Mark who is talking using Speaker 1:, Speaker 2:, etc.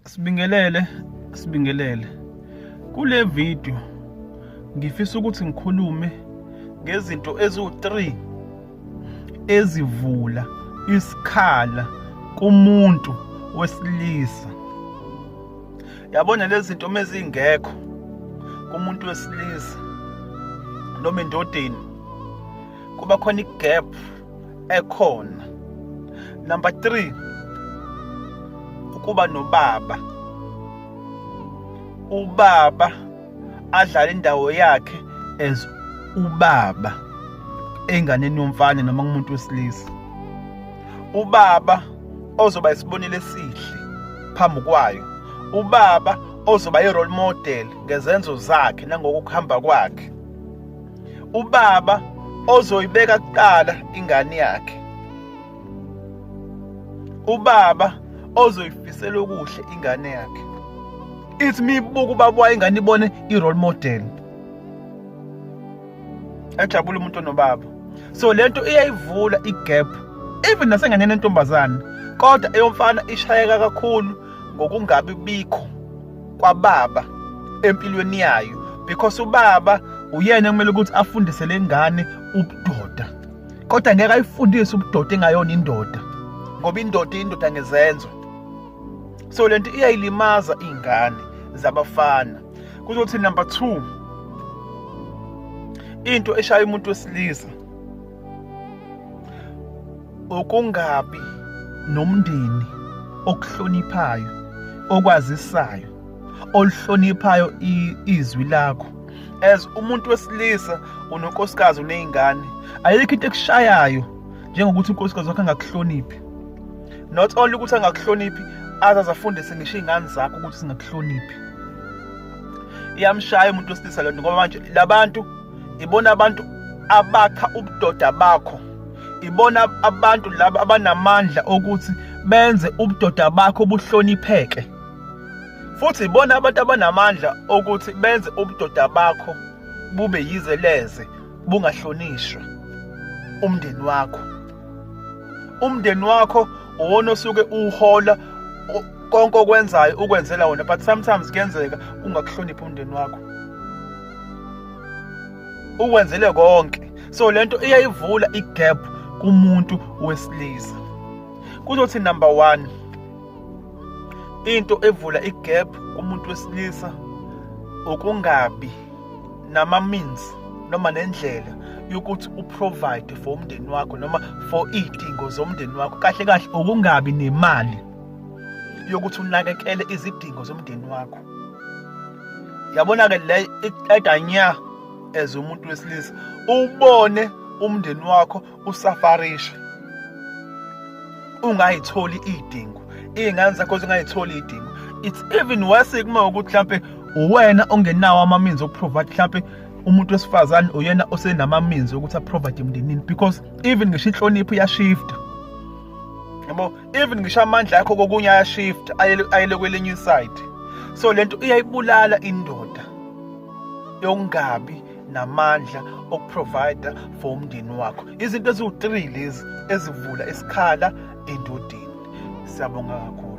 Speaker 1: Sibingelele, sibingelele. Kule video ngifisa ukuthi ngikhulume ngezinto eziwu-3 ezivula isikhala kumuntu wesilisa. Yabona lezi zinto uma zingekho kumuntu wesilisa noma endodeni kuba khona i-gap ekhona number 3 ukuba nobaba ubaba adlala indawo yakhe as ubaba enganeni yomfana noma kumuntu wesilisa ubaba ozoba isibonelo esihle phambi kwayo ubaba ozoba i-role model ngezenzo zakhe nangokuhamba kwakhe ubaba ozoyibeka kuqala ingane yakhe ubaba ozoyifisela okuhle ingane yakhe ithi mibuka ubaba wayo ingane ibone i-role model ajabule umuntu onobaba so lento iyayivula i-gap even nasenganeni entombazane kodwa eyomfana ishayeka kakhulu ngokungabi bikho kwababa empilweni yayo because ubaba uyena kumele ukuthi afundise lengane ubudoda kodwa ngeke ayifundise ubudoda engayona indoda ngoba indoda indoda ngezenzo so lento iyayilimaza ingane zabafana kuzothi number 2 into eshaya umuntu wesilisa ukungabi nomndeni okuhloniphayo okwazisayo oluhloniphayo izwi lakho as umuntu wesilisa unonkosikazi unezingane ayikho into ekushayayo njengokuthi unkosikazi wakhe angakuhloniphi not only ukuthi angakuhloniphi azaze afundise ngisho izingane zakho ukuthi singakuhloniphi iyamshaya umuntu wesilisa lento ngoba manje labantu ibona abantu abakha ubudoda bakho ibona abantu laba abanamandla okuthi benze ubudoda bakho buhlonipheke futhi ibona abantu abanamandla okuthi benze ubudoda bakho bube yize leze bungahlonishwa umndeni wakho umndeni wakho uwona osuke uhola konke okwenzayo ukwenzela wona but sometimes kuyenzeka ungakuhloniphi umndeni wakho ukwenzele konke so lento iyayivula igap kumuntu wesilisa kuzothi number 1 into evula igap kumuntu wesilisa ukungabi nama means noma nendlela yokuthi uprovide for umndeni wakho noma for idingo zomndeni wakho kahle kahle ukungabi nemali yokuthi unakekele izidingo zomndeni wakho yabona ke le iqeda nya as umuntu wesilisa ubone umndeni wakho usafarisha ungayitholi idingo izingane zakho zingayitholi idingo it's even worse kuma ukuthi mhlambe uwena ongenawo amaminzi okuprovide mhlambe umuntu wesifazane uyena osenamaminzi ukuthi aprovide emndenini because even ngisho inhlonipho iyashifta yabo even ngisho amandla akho kokunye ayashift ayele kwelinye inside so lento iyayibulala indoda yokungabi namandla okuprovide for umndeni wakho izinto eziwu-3 lezi ezivula isikhala endodeni siyabonga kakhulu